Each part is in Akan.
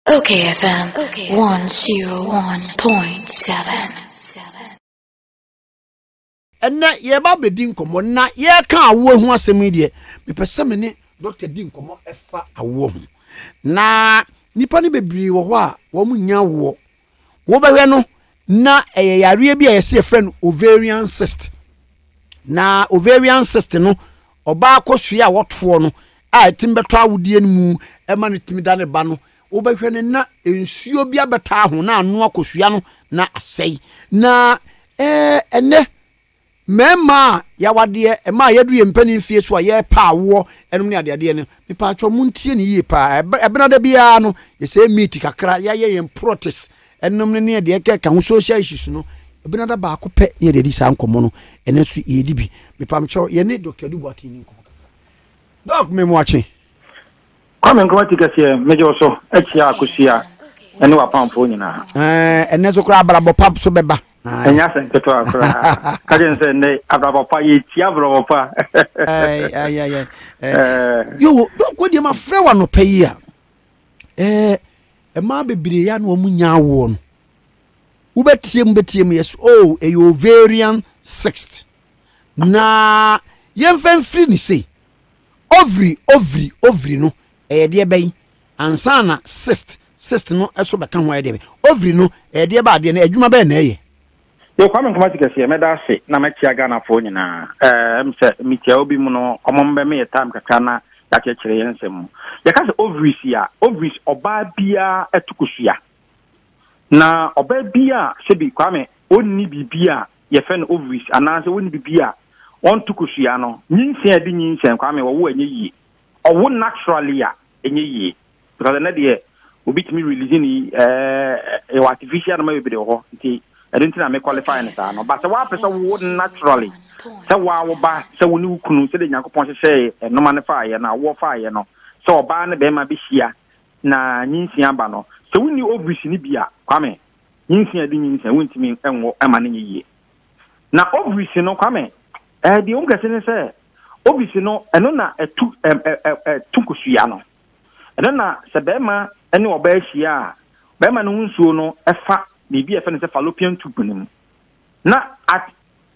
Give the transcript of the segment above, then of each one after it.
Okay FM 101.7 ɛnɛ yɛba bɛdi nkɔmmɔ na yɛka awoɔ ho asɛm yi deɛ mepɛ sɛ me ne dɔkta di nkɔmmɔ ɛfa awoɔ ho na nnipa no bebree wɔ hɔ a wɔn nyɛ awoɔ wobɛhwɛ no na ɛyɛ yareɛ bi a yɛsɛ yɛfrɛ no ovarian cyst na ovarian cyst no ɔbaa kɔsua a wɔtoɔ no a ɛtumi bɛtɔ awodeɛ no mu ɛma no tumi da ne ba no wobɛhwɛ no na nsuo bi abɛtaa ho na ano akɔsua no na asɛe na ɛɛ ɛnɛ Mmarima a y'awadeɛ, mmaa a y'aduru yɛn mpanin mfeɛ so a y'ɛrepɛ awoɔ nom ne adeadeɛ no, me paatwɔ mo ntie no yie paa. Ɛbenada biara no yɛ sɛ yɛ meet kakra, y'ayɛ yɛn protes nom ne ne deɛ ɛkeka ho social issues no, ɛbenada baako pɛ ne yɛde adi saa nkɔmɔ no, ɛnɛ nso y'ɛredi bi. Me pamkyɛw, yɛne Doctor Adu Boateng ni nkɔmɔ. Doc, me moakye. Kwame Nkrumah ti kɛseɛ, megye wo so akyia akosua ɛne w'apamfoɔ nyinaa. Ɛɛ, ɛnɛ so koraa abrabɔ pa so bɛba. Ɛnyɛ asɛm ketewa koraa. Ka kyerɛ no sɛ ɛnɛ abrabɔ pa, yɛtia abrabɔ pa. Ɛɛ, ɛɛ, ɛɛ, ɛɛ. Yoo, dɔkɔ deɛ ma frɛ wa nɔpɛ yi a. Ɛɛ, ɛmaa bebree ya na wɔn nya awoɔ no. Wobɛtie mu bɛtie mu yɛs o, oh, ɛyɛ ovarian cyst. Na yɛmfa mfiri ne sei. Ovary, Ovary, Ovary no ɛyɛ deɛ bɛn? Ansa na cyst, cyst no ɛso bɛka ho ayɛ deɛ bɛn? Ovary no ɛyɛ deɛ bɛn adeɛ no adwuma bɛn na ɛyɛ? Yo Kwame Nkrumah ti kɛseɛ mɛda ase na mɛkyia Ghanafoɔ nyinaa eh, ɛm sɛ mekyia wo bi mu no ɔmo mbɛ me yɛ time kakra na yɛakyerɛkyerɛ yɛn nsɛm mu yɛka sɛ ovaries a ovaries ɔbaa biara ɛto kosua na ɔbaa biara sɛbi Kwame ɔnni biribi a yɛfrɛ no ovaries anaasɛ wonni biribi a wɔnto kosua no, nyinsɛn a ɛde nyinsɛn Kwame wɔwo a ɛnyɛ yie, ɔwo naturally a ɛnyɛ yie because ɛnɛ deɛ obi tumi release ne ɛɛ ɛwɔ artificial noma bebree wɔ hɔ nti ɛno nti na me qualify no saa no ba sɛ woapɛ sɛ wowo naturally sɛ woa wo ba sɛ wo ne wo kunu sɛdeɛ nyankopɔn hyehyɛɛ noma no faayɛ no awoɔ faayɛ no sɛ ɔbaa ne bɛrima bɛhyia na nyinsia ba no sɛ wonni ovaries no bi a Kwame nyinsɛn de nyinsɛn wontumi nwo ɛma no nyɛ yie na ovaries no kwame ɛɛ eh, deɛ wɔn kɛse ne sɛ ovaries no ɛno na ɛtu ɛm ɛ ɛ ɛtu kosua no ɛno na sɛ bɛrima ne ɔbaa ahyia a bɛrima no ho nsuo no ɛfa biribi a ɛfɛ no sɛ fallopian tube no mu na at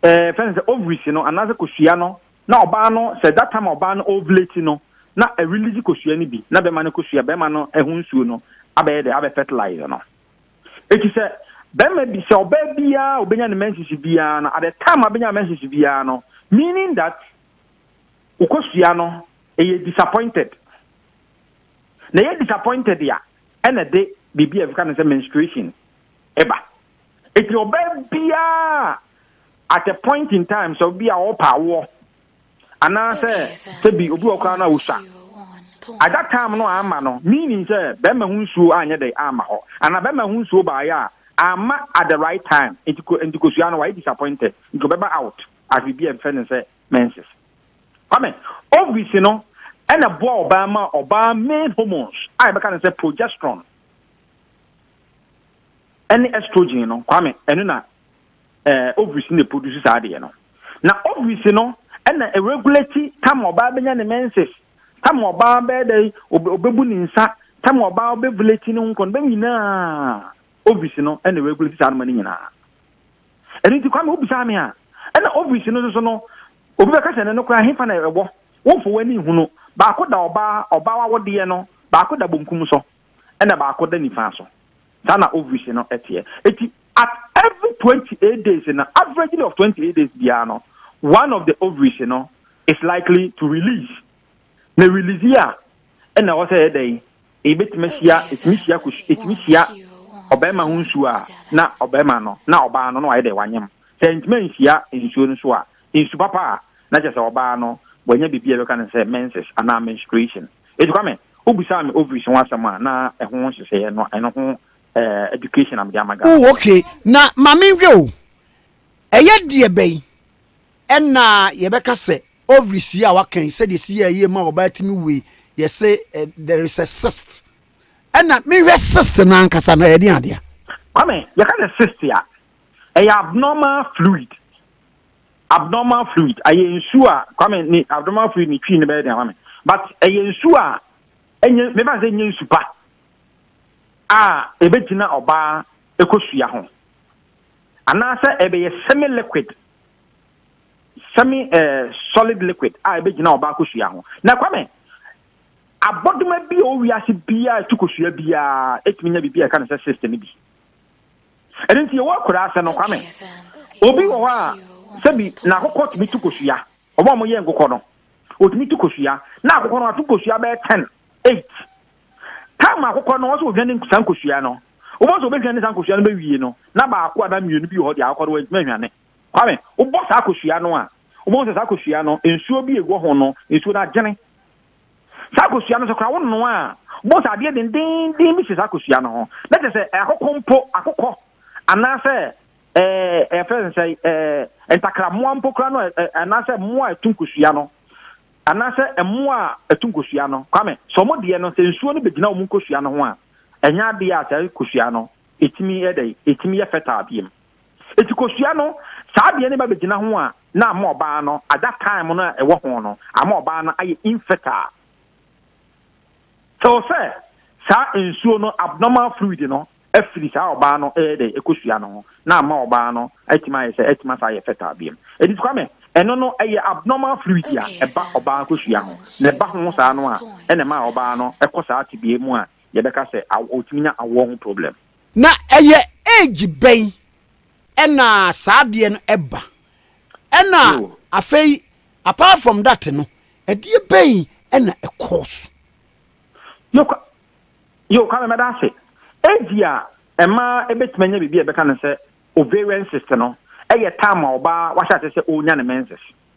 ɛɛ eh, fɛn sɛ ovaries no anaasɛ kosua no na ɔbaa no sɛ that time ɔbaa no ovulate no na ɛrelease kosua no bi na bɛrima no kosua bɛrima no ɛho nsuo no abɛyɛ dɛ abɛ fertilize no. Eti sɛ bɛrima bi, sɛ ɔbaa biara a obenya ne menses biara no, at the time abenya menses biara no, meaning that wokosua no, ɛyɛ disappointed. Na ɛyɛ disappointed a, ɛna ɛde biribi a ɛfeka no sɛ menstruation ɛba. Eti ɔbaa biara at a point in time, sɛ obi a ɔpa awoɔ, anaasɛ sɛ bi obi wɔ koraa no a ɔsua. At that time no amma no, meaning sɛ bɛrima ho nsuo anyɛ dɛ amma hɔ. Anaa bɛrima ho nsuo baeɛ a, amma at the right time. Nti ko, nti kosua no wayɛ disappointed. Nti ɔbɛba out as biribi a ɛmfrɛ no sɛ menses. Kwame, ovaries no ɛna boa ɔbaa ma ɔbaa main hormones a yɛbɛka no sɛ progesterone. ɛne estrogen no kwame ɛno na ɛɛ eh, ovaries na produce saa adeɛ no na ovaries no ɛna regulate tam ɔbaa bɛnya ne menses tam ɔbaa bɛyɛ dɛ ɔbɛbu ne nsa tam ɔbaa ɔbɛvulate ne ho nkɔn bɛm nyinaa ovaries no ɛna regulate saa noma no nyinaa ɛno nti kwame wobisa me a ɛna ovaries no nso no obi bɛka sɛ ne no koraa hefa na ɛwɔ wofo w'ani hunu baako da ɔbaa ɔbaa wawodeɛ no baako da bonkum so ɛna baako da nifa so. Saa na ovaries no teɛ. Eti at every twenty eight days no, averagely of twenty eight days biara no, one of the ovaries no is likely to release. Na release yi a, ɛna ɛwɔ sɛ yɛ dɛn? Ebetumi ahyia, etumi hyia kos, etumi hyia ɔbarima ho nsuo a na ɔbarima no, na ɔbaa no na wayɛ dɛn? Wanyem. Sɛ ntumi anhyia nsuo no so a, nsu papa a, na kyerɛ sɛ ɔbaa no wanya biribi a yɛbɛka no sɛ menses anaa menstruation. Eti Kwame, Wobisaa me ovaries ho asɛm a na ɛho nhyehyɛeɛ no ɛno ho eh, education na mede ama Ghana. Oh ok, na ma menhwɛ o, ɛyɛ deɛ bɛn ɛna yɛbɛka sɛ ovaries yi a waka yi sɛdeɛ ɛsi yɛ yie ma ɔbaa tumi wei yɛse eh, there is a cyst ɛna menhwɛ cyst no ankasa no ɛyɛ deɛ adeɛ. Kwame, yɛka sɛ cyst a, ɛyɛ abnormal fluid Abnormal fluid, ayɛ nsu a Kwame ne abnormal fluid ne twi no bɛyɛ den ama me but ɛyɛ nsu a ɛnyɛ mefa sɛ ɛnyɛ nsu pa a ɛbɛgyina ɔbaa ɛkɔsua ho anaasɛ ɛbɛyɛ semi liquid semi eh, solid liquid a ɛbɛgyina ɔbaa kɔsua ho na Kwame abɔdoma bi a ɔwiase biara ɛtu kɔsua biara ɛtumi nya biribi a ɛka no sɛ system bi Ɛno nti yɛwɔ akwadaa ase no, Kwame, obi wɔ hɔ a sɛbi n'akokɔ tumi tu kosua. Wɔn a wɔyɛ nkokɔ no, wɔtumi tu kosua. Na akokɔ no ato kosua bɛyɛ ten, eight. Tam akokɔ no, ɔsɛ ohwane saa nkosua no. Wobɔ sɛ obɛhwane saa nkosua no bɛwie no, na baako anaa mmienu bi wɔ hɔ deɛ akokɔ no wantumi ahwane. Kwame, wobɔ saa kosua no a, wobɛhu sɛ saa kosua no, nsuo bi a ɛwɔ ho no, nsuo no agyene. Saa kosua no so koraa, wonoa a, wobɛhu sɛ adeɛ dendeenden bi si saa kosua no ho. Na kyerɛ sɛ akoko mpo, akokɔ anaasɛ ɛɛ ɛfɛ no sɛ ɛɛ ntakrammoa mpo koraa no anaasɛ mmoa a ɛtu nkosua no anaasɛ mmoa a ɛtu nkosua no kwame sɛ wɔn deɛ no sɛ nsuo no bɛgyina wɔn nkosua no ho a ɛnyɛ adeɛ a saa kosua no ɛtumi ɛdɛ ɛtumi yɛ fɛtaa biem. Enti kosua no, saa deɛ no ba bɛgyina ho a, na ama ɔbaa no, at that time no a ɛwɔ ho no, ama ɔbaa no ayɛ infertile. Till sɛ saa nsuo no, abnormal fluid no, afiri saa ɔbaa no ɛyɛ dɛ ɛkosua no ho, na ama ɔbaa no atumi ayɛ sɛ atumi asan ayɛ fertile biom. Enti Kwame, ɛno no, ɛyɛ abnormal fluid a ɛba ɔbaa kosua ho, na ɛba ho saa no a, ɛna ɛma ɔbaa no kɔ saa tebea mu a yɛbɛka sɛ aw, ɔtumi nya awoɔ ho problem. Na ɛyɛ age bɛn ɛna saa adeɛ no ɛba? Ɛna afei apart from that no ɛdeɛ bɛn ɛna ɛ cause? Yo kwa yo kwame mɛda ase age a ɛma ɛbɛtumi anya biribi a ɛbɛka no sɛ ovarian cyst no ɛyɛ time a ɔbaa wahyɛ ase sɛ ɔrenya ne menses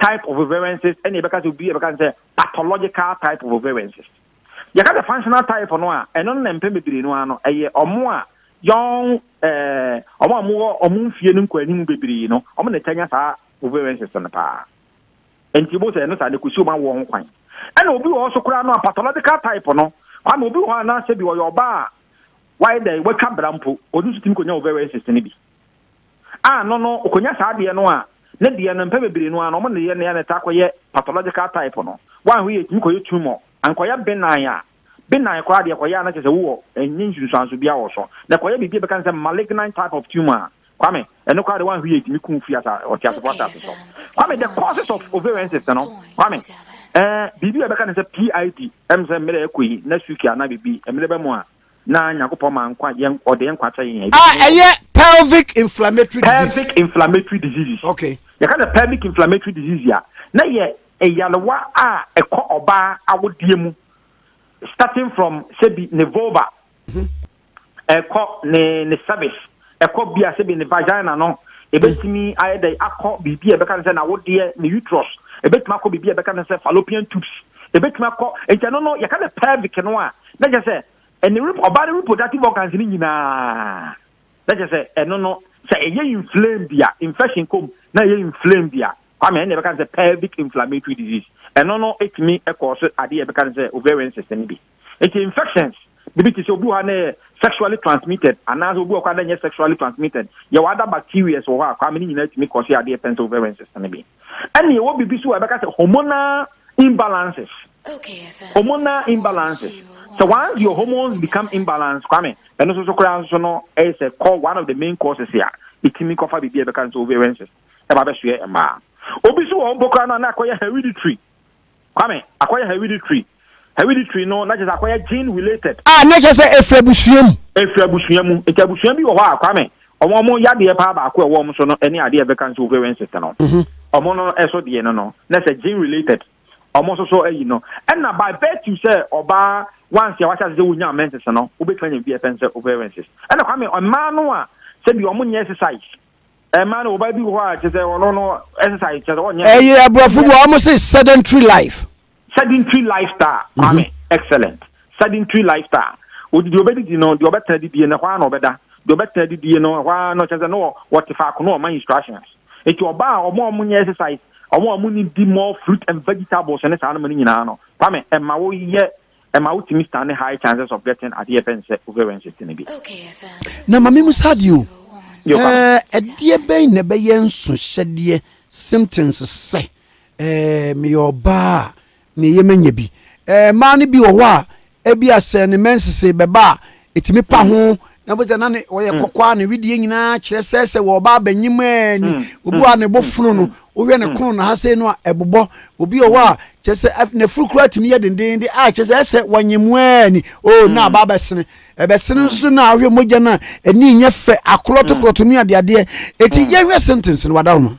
type of variances ɛna yɛbɛka sɛ obi yɛbɛka sɛ pathological type of variances yɛka sɛ functional type no a ɛno no na mpɛn bebree no ano ɛyɛ ɔmo a yɔn ɛɛ ɔmo a wɔwɔ ɔmo mfie no nkɔanim bebree no ɔmo na ɛtɛ nya saa variances no paa nti bo sɛ ɛno saa ne kosi ɔmo awoɔ ho kwan ɛna obi wɔ hɔ so koraa no a pathological type no kwame obi wɔ hɔ a na sɛ bi ɔyɛ ɔbaa a wayɛ dɛ watwa bra mpo ɔno nso tumi kɔnya variances no bi a no no okonya saa deɛ no a ne deɛ no mpɛ bebree no a na ɔmo nneyɛ no a na ɛtaa kɔyɛ pathological type no wanhwɛ yɛ ɛtumi kɔyɛ tumor ankɔyɛ benan a benan koraa deɛ ɛkɔyɛ a na kyerɛ sɛ wowɔ ɛnyɛ nsunsuanso biaa wɔ so na ɛkɔyɛ biribi a ɛbɛka no sɛ malignant type of tumor a Kwame ɛno koraa deɛ wanhwɛ yɛ ɛtumi kum firi asa ɔteasefo asase so Kwame the causes of ovarian cyst no Kwame ɛɛ biribi a ɛbɛka no sɛ PID ɛm sɛ mmerɛ ɛkɔ yi next week anaa biribi mmerɛ bɛ mu a na Nyankopɔn maa nkwa, yɛn, Ɔde yɛn nkwa kyɛ yɛn a, ebi A, tumi wɔ. ɛyɛ pelvic inflammatory disease. Pelvic inflammatory diseases. Okay. Yɛka sɛ pelvic inflammatory disease a, na yɛ nyarewa a ɛkɔ ɔbaa awodeɛ mu, starting from sɛbi ne vulva, ɛkɔ ne ne cervix. ɛkɔ bia sɛbi ne vagina no ɛbɛtumi mm. ayɛ dɛ akɔ biribi a ɛbɛka no sɛ nawodeɛ ne uterus ɛbɛtumi akɔ biribi a ɛbɛka no sɛ fallopian tubes ɛbɛtumi akɔ nti ɛno no yɛka ne pelvic no a na kyɛ sɛ ɛne ɔbaa ne reproductive organs no nyinaa na kyɛ sɛ ɛno no sɛ ɛyɛ inflame bi a infection kom na ɛyɛ inflame bi a kwame ɛne ɛbɛka no sɛ pelvic inflammatory disease ɛno no ɛtumi ɛkɔɔ so adeɛ ɛbɛka no sɛ ovarian system bi Enti infections bibi te sɛ obi wɔ hɔ a na ɛyɛ sexually transmitted anaasɛ obi wɔ hɔ a na ɛnyɛ sexually transmitted. Yɛwɔ other bacterias wɔ hɔ a kwame ne nyinaa tumi kɔse adeɛ pɛn sɛ ovarian cyst no bi. Ɛna yɛwɔ bibi so a yɛbɛka sɛ hormonal imbalances, hormonal imbalances. Sɛ once your hormones become imbalanced kwame, ɛno nso so koraa nso so no ɛyɛ sɛ kɔ one of the main causes a ɛtumi kɔfa bibi a yɛbɛka no sɛ ovarian cyst ɛba bɛsoɛ mmaa. Obi nso wɔ hɔ mpo koraa no a na akɔyɛ hereditary Kwame, akɔyɛ hereditary. Hereditary no, na kyerɛ sɛ akɔyɛ gene related. A, na kyerɛ sɛ ɛfiri abusua mu. Ɛfiri abusua mu. Nti abusua bi wɔ hɔ a, Kwame, wɔn wɔn yadeɛ paa baako a ɛwɔ wɔn so no ne adeɛ a yɛfrɛ cancer ovarian cyst no. Wɔn no so deɛ no no, na sɛ gene related. Wɔn nso so ayi no. Ɛna by virtue sɛ ɔbaa once a wahyɛ ase sɛ wonya menses no, wobɛtumi anya biribi a yɛfrɛ no sɛ ovarian cyst. Ɛna Kwame, mmaa no a sɛbi wɔn nyɛ exercise, ɛma no wɔba bi wɔ hɔ a kyerɛ sɛ ɔno no exercise kyerɛ sɛ ɔnyɛ ɛyɛ aborɔfo bɔ wɔn se sedentary life sedentary lifestyle mhm. maame excellent sedentary lifestyle odi deɛ ɔbɛdidi no deɛ ɔbɛtena didie no hɔ ara na ɔbɛda deɛ ɔbɛtena didie no hɔ ara no kyerɛ sɛ no wɔte faako no ɔma instructions nti ɔbaa a ɔmo a ɔmo nyɛ exercise ɔmo a ɔmo ni di more fruit and vegetables ne saa no ma no nyinaa no kwame ɛma woyɛ ɛma wotumi stand high chances of getting adeɛ yɛfɛ no sɛ ovarian cyst no bi. Na ma memu saa adeɛ o. Ɛdeɛ bɛn na ɛbɛyɛ nsohyɛdeɛ symptoms sɛ meyɛ ɔbaa a na ɛyɛ manya bi? Mmaa no bi wɔ hɔ a, ebia sɛ ne menses bɛba a, ɛtumi pa ho na bɛ sɛ na ne ɔyɛ hmm. kɔkɔɔ a ne wedeɛ nyinaa kyerɛ sɛ sɛ wɔba abɛnyim ɛɛ ni hmm. obi a ne bo hmm. fono no wohwɛ ne kono na ha sɛ no a ɛbobɔ obi ɔwɔ a kyɛ sɛ n'afuru kura tumi yɛ dendenden a kyɛ sɛ ɛsɛ wɔnyim ɛɛ ni o oh, na aba abɛsene ɛbɛsene nso na ahwɛ mogya no a ɛni nyɛ fɛ akorɔtokorɔto ne adeadeɛ ɛti yɛhwɛ sentence no wada no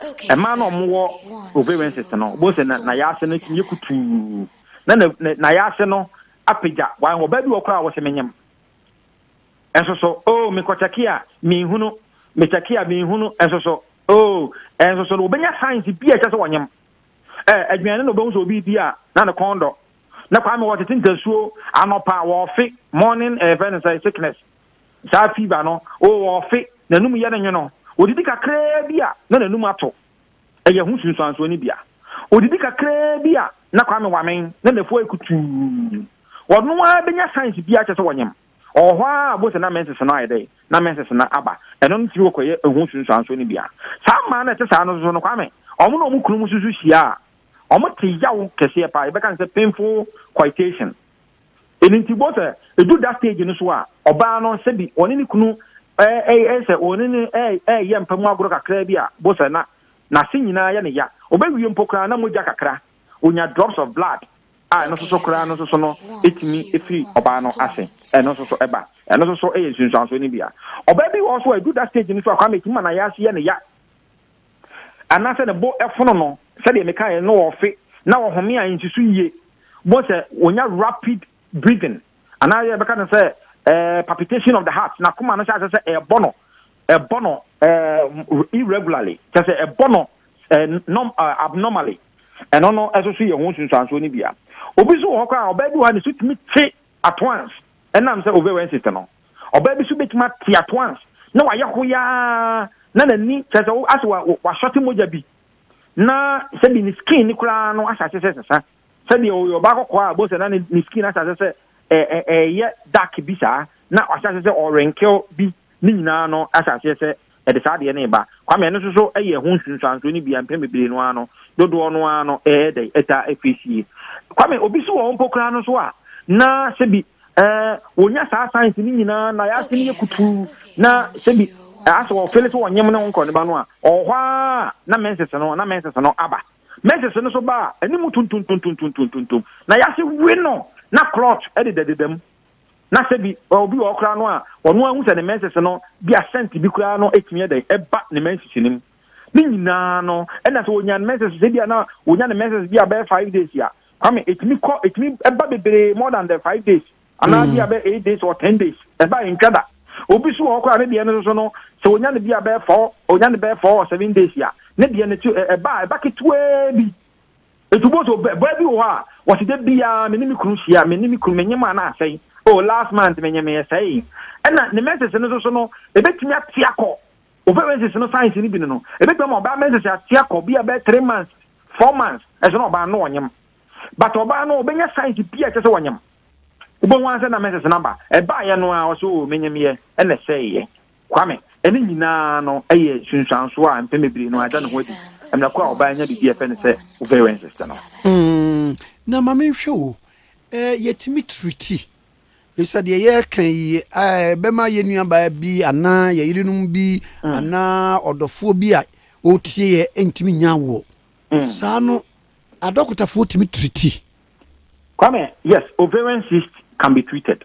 Ɛmaa na wɔwɔ ovaries no, wobɛhu sɛ na n'ayaase no tumi yɛ kutuu, na n'ayaase no apagya. Wɔn ɔbaa bi wɔ koraa a wɔsɛ menyem. Nso so, oh, mekɔkyɛke a menhunu, mekyɛke a menhunu, nso so, oh, nso so, wɔbɛnya science bi a ɛkyɛ sɛ wɔnyem. Eh, aduane na wɔbɛhu sɛ obi di a, na ne kɔn dɔ. Na kwame wɔtete ntasuo anɔpa wɔfe morning eh, fɛ ne sɛ sickness, Saa fever no, oh, ɔfe, n'anum yɛ no nwono. Odidi kakraa bi a, na n'anum ato. Ɛyɛ ho nsunsuansoɔ no bi a. Odidi kakraa bi a, na Kwame Wamen, na n'afua ayɛ kutuu. Ɔno ara bɛnya signs biara kyerɛ sɛ ɔnyem. Ɔwɔ hɔ ara a, wobɛhu sɛ na menses no ayɛ dɛn? Na menses no aba. Ɛno no tiri ɔkɔyɛ ho nsunsuansoɔ no bi a. Saa mmaa no a ɛte saa no nso no, Kwame, wɔn ne wɔn kununom nso hyia a, wɔte yaw kɛseɛ paa. Yɛbɛka no sɛ painful coitation. Ɛno nti boɔ sɛ ɛdu da stage no so a, ɔbaa no sɛbi ɔne ne kunu ɛyɛ sɛ ɔne ne ɛyɛ mpa mu agorɔ kakra bi a, boɔ sɛ na n'ase nyinaa yɛ ne ya. Ɔbɛwie mpo koraa na mogya kakra, ɔnya drops of blood a ɛno nso so koraa no nso so no ɛtumi firi ɔbaa no ase, ɛno nso so ɛba. Ɛno nso so ɛyɛ nsunsuansoɔ no bi a. Ɔbaa bi wɔ hɔ nso a ɛdu da stage no so a Kwame ɛtumi ma n'ayaaso yɛ ne ya. anaasɛ ne bo fono no, sɛdeɛ mekaeɛ no ɔfe na ɔhome a ɛnsi so yie, wobɛhu sɛ ɔnya rapid breathing anaa yɛbɛka no sɛ eh, palpitation of the heart, n'akoma no hyɛ aseɛ sɛ ɛrebɔ no ɛbɔ no eh, irregularly, kyɛ sɛ ɛbɔ no eh, norm, eh, abnormally. Ɛno no ɛso so yɛ ho nsunsuansoɔ no bia. Obi so wɔ hɔ koraa a ɔbɛɛ bi wɔ ha ne so tumi te at once ɛnam sɛ ovarian cyst no. Ɔbaa bi nso betumi ate atoans na wayɛ hoyaa na n'ani kyerɛ sɛ asɛ wasɔte mogya bi na sɛbi ne skin ne koraa no ahyɛ sɛ sesa sɛdeɛ ɔyɛ ɔbaa kɔkɔɔ a bɔsɛ na ne skin ahyɛ sɛ ɛyɛ dark bi saa na wahyɛ sɛ ɔrenkew bi ne nyinaa no ahyɛ sɛ Ɛde saa adeɛ no reba. Kwame, ɛno nso so yɛ ho nsunsuansoɔ no bi a mpɛn bebree no ara no, dodoɔ no ara no ɛyɛ dɛn? Ɛtaa firi sie. Kwame, obi nso wɔ hɔ mpo koraa no nso a, na sɛbi ɛɛ wɔnya saa signs no nyinaa na yɛ ase no yɛ kutuu na sɛbi asɛ ɔfeele sɛ ɔnyem ne ho nkɔ ne ba no a, ɔwɔ hɔ ara na menses no na menses no aba. Menses no nso ba a, anim tuntum tuntum tuntum tuntum na yɛ ase we no na clot dedadeda mu. na sɛ bi ɔ obi wɔ hɔ koraa no a ɔno ara hu sɛ ne menses no bi a scent bi koraa no etumi ɛdɛn ɛba ne menses no mu ne nyinaa no ɛna sɛ onya ne menses sɛ bi a na onya ne menses bi a bɛyɛ five days a kwame etumi kɔ etumi ɛba bebree more than the five days anaa bi a bɛ eight days or ten days ɛba ntwa da obi so wɔ hɔ koraa ne deɛ no nso no sɛ onya ne bi a bɛyɛ four onya ne bɛyɛ four or seven days a ne deɛ no ti ɛba ɛba ketewaa bi. Nti wobɛhu sɛ ɔbɛ- baa bi wɔ hɔ a, wɔse da biaa me ne me kunu hyia, me ne me kunu menye maa no asɛe. Oh, last month menye me ɛsɛee. Ɛna ne menses no nso so no, ɛbɛtumi ate akɔ, ɔfɛ menses no signs no bi no no, ɛbɛtumi ama ɔbaa menses ate akɔ, bia bɛyɛ three months, four months, ɛso na ɔbaa no na ɔnyem. But ɔbaa no, ɔbɛnya signs pii a ɛkyɛ sɛ ɔnyem. Wobɛhu ara sɛ na menses no aba. Ɛbaeɛ no ara, ɔse oh, menyemyɛ, ɛna ɛsɛeeɛ. Kwame, ɛne nyinaa no yɛ sunsuanso a mpɛn bebree no ada ne ho adi. Mmerɛ kɔ a ɔbaa anya biribi a ɛfɛ no sɛ Uverensis no. Mm, na ma menhwɛ o. Eh, yɛtumi triti. Bisa deɛ yɛreka yi ɛbɛma yɛ nuabaa bi anaa yɛ yerenom bi mm. anaa ɔdɔfoɔ bi a ɔretie yɛ ntumi nya awoɔ. Mm. Saa no, adɔkotafoɔ tumi triti. Kwame, yes, ovarian cyst can be treated.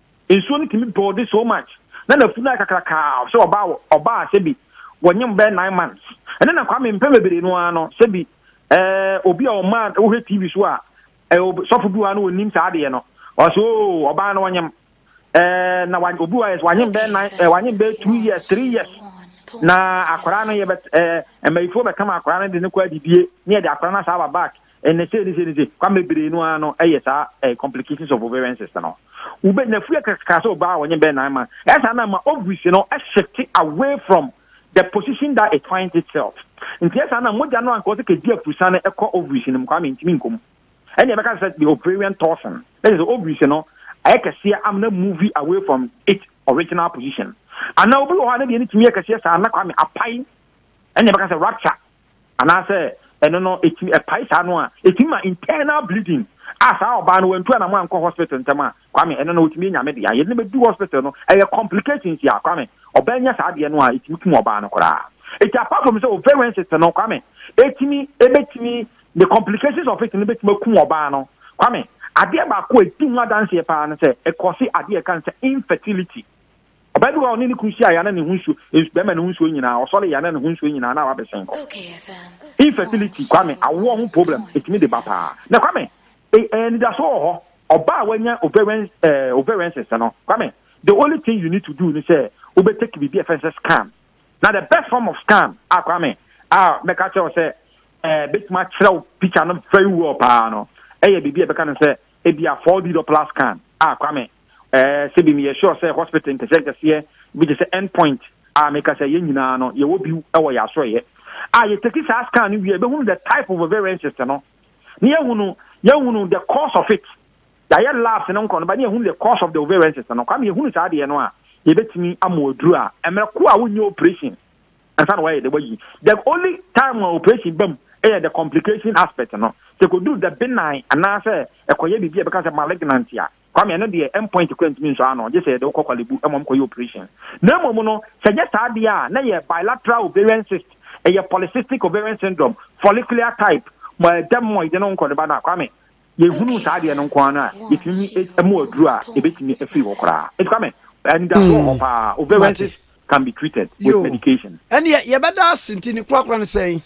Nsuo no tumi builde so much na n'afunu ayɛ kakrakaa sɛ ɔbaa wɔ ɔbaa sɛbi wɔnyem bɛyɛ nine months. Ɛnɛ na Kwame mpɛn bebree no ara no sɛbi ɛɛ obi a ɔmaa wohwɛ TV so a ɛɛ ob sɔfo bi wɔ ha no ɔnnim saa adeɛ no ɔsɛ oo ɔbaa no ɔnyem ɛɛ na wa obi wɔ ha yɛ sɛ wanyem bɛyɛ nine ɛɛ wanyem bɛyɛ two years three years na akwaraa no yɛbɛ ɛɛ mmayifoɔ bɛkama akwaraa no de no kɔ adidie ne yɛde akwaraa no asaa aba back Ɛnɛ sei ne sei ne sei, kwan bebree no ara no yɛ saa eh, complications of ovarian cyst no. Wobɛ na fie kakra sɛ ɔbaa wɔnyɛ bɛyɛ nine months. Ɛsa na ma ovaries no shift away from the position that it finds itself. Nti ɛsa na mogya no anka ɔsɛ kɛdi afurusa no ɛkɔ ovaries no mu kwame ntumi nkɔ mu. Ɛne ɛbɛka sɛ the ovarian toxin. Ɛsɛ sɛ ovaries no ayɛ kɛseɛ am na move away from its original position. Ana obi wɔ hɔ a na deɛ ne tumi yɛ kɛseɛ saa na kwame apae ɛne ɛbɛka sɛ rupture anaasɛ ɛno no ɛtumi ɛpae saa no a ɛtumi ma internal bleeding a saa ɔbaa no wantu anamo ankɔ hospital ntɛm a kwame ɛno no wɔtumi anya me deɛ yɛde no bɛdu hospital no ɛyɛ complications a kwame ɔbaa nya saa deɛ no a ɛtumi kum ɔbaa no koraa ɛti apart from sɛ ovarian cyst no kwame ɛtumi ɛbɛtumi the complications of it no bɛtumi akum ɔbaa no kwame adeɛ baako a ɛdi ho adanseɛ paa no sɛ ɛkɔse adeɛ ɛka no sɛ infertility Ɔbaa bi wɔ hɔ a ɔne ne kunu hyiaeɛ a na ne ho nsuo, nsu, bɛrima ne ho nsuo nyinaa, ɔsɔreeɛ a na ne ho nsuo nyinaa na wabɛsɛn hɔ. Infertility, Kwame, awoɔ ho problem, ɛtumi de ba paa. Na Kwame, e, e, anidasoɔ wɔ hɔ. Ɔbaa a wanya ovarian, eh, ovarian cyst no, Kwame, the only thing you need to do ne sɛ wobɛtake biribi a ɛfɛ ne sɛ scan. Na the best form of scan a Kwame, a mɛka kyerɛ wo sɛ, eh, bɛtumi akyerɛ wo picture no very well paa no, ɛyɛ biribi a ɛbɛka ne sɛ, ebia 4D Doppler scan a Kwame, eh, sɛ bi meyɛ sure sɛ hospital nkɛseɛ nkɛseɛ bi te sɛ end point a meka sɛ yɛn nyinaa no yɛwɔ biw wɔ yɛ asoɛyɛ a yɛtaki saa scan no wie bɛhunu the type of ovarian cyst no na yɛhunu yɛhunu the cause of it yɛayɛ labs no nkɔ no ba na yɛhunu the cause of the ovarian cyst no kwa me yɛhunu saa deɛ no a yɛbɛtumi ama aduru a mmerɛko a wonyɛ operation ansa na wɔayɛ de wayi the only time a operation bam ɛyɛ the complication aspect no sɛ kɔduru the benign anaasɛ ɛkɔyɛ biribi a ɛbɛka sɛ malignant a Kwame, ɛno deɛ end point koraa ntumi nsɔ ano, gye sɛ yɛde wo kɔ Korle Bu ma wɔkɔyɛ operation. Na mmom no, sɛ ɛnyɛ saa deɛ a, na ɛyɛ bilateral ovarian cyst, ɛyɛ polycystic ovarian syndrome, follicular type, dermoid no nkɔ ne ba no a, Kwame, yɛhunuu saa adeɛ no nko ara no a, yɛtumi mmɔ aduro a ɛbɛtumi afiri hɔ koraa. Enti Kwame, anidaso wɔ hɔ paa, ovarian cyst can be treated with medication. Ɛnneɛ yɛbɛda ase nti ne korakora no sɛn?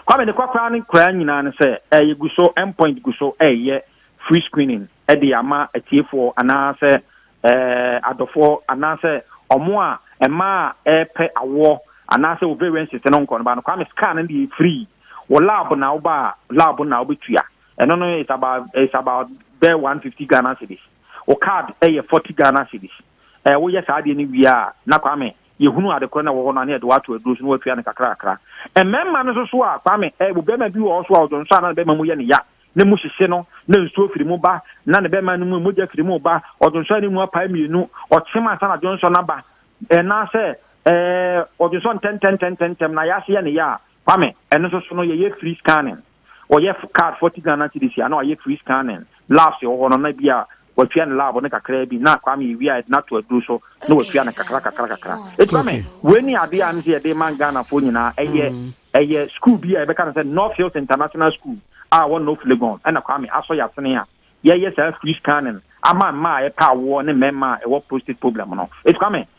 Kwame ne kɔkoraa ne koraa nyinaa ne sɛ ɛyɛ gu so M point gu so ɛyɛ free screening ɛde ama atiefoɔ anaasɛ ɛɛ adɔfoɔ anaasɛ ɔmo a ɛmaa ɛɛpɛ awoɔ anaasɛ ovarian cyst no nkɔ no ba no Kwame scan no deɛ free wɔ lab na wo ba a lab na wobɛtua ɛno no it's about it's about bɛɛ 150 Ghana cedis wo card ɛyɛ 40 Ghana cedis ɛɛ woyɛ saa deɛ no wie a na Kwame yɛhunu ade korɔ no a ɛwɔ hɔ no a, na yɛde wɔato aduro so na wɔatua no kakrakra. Mmarima no nso so a, Kwame, ɛ, ɔbarima bi wɔ hɔ so a, ɔdwonsɔ a na ne bɛrima mu yɛ no ya, na mu hyehye no, na nsuo firi mu ba, na ne bɛrima no mu mogya firi mu ba, ɔdwonsɔ a ne mu apae mmienu, ɔkyem ansa na dwonsɔ no aba, anaasɛ, ɛ, ɔdwonsɔ ntɛmntɛmntɛmntɛm na ayɛ ase yɛ no ya a, Kwame, ɛno nso so no, yɛyɛ free scanning. ɔyɛ card forty Ghana cedis a na wayɛ tree scanning, labs wɔ hɔ no na bi a watua ne lab no kakra bi na Kwame ewie a yɛde no ato aduru so na watua no kakra kakra kakra. Eti ma me wei ne adeɛ a ɛm sɛ yɛde ma Ghanafoɔ nyinaa ɛyɛ ɛyɛ school bi a yɛbɛka no sɛ North Hills International School a ɛwɔ North Legon ɛna Kwame asɔ yɛasene a yɛyɛ saa free scanning ama mmaa a ɛpɛ awoɔ ne mmarima a ɛwɔ prostate problem no. Eti Kwame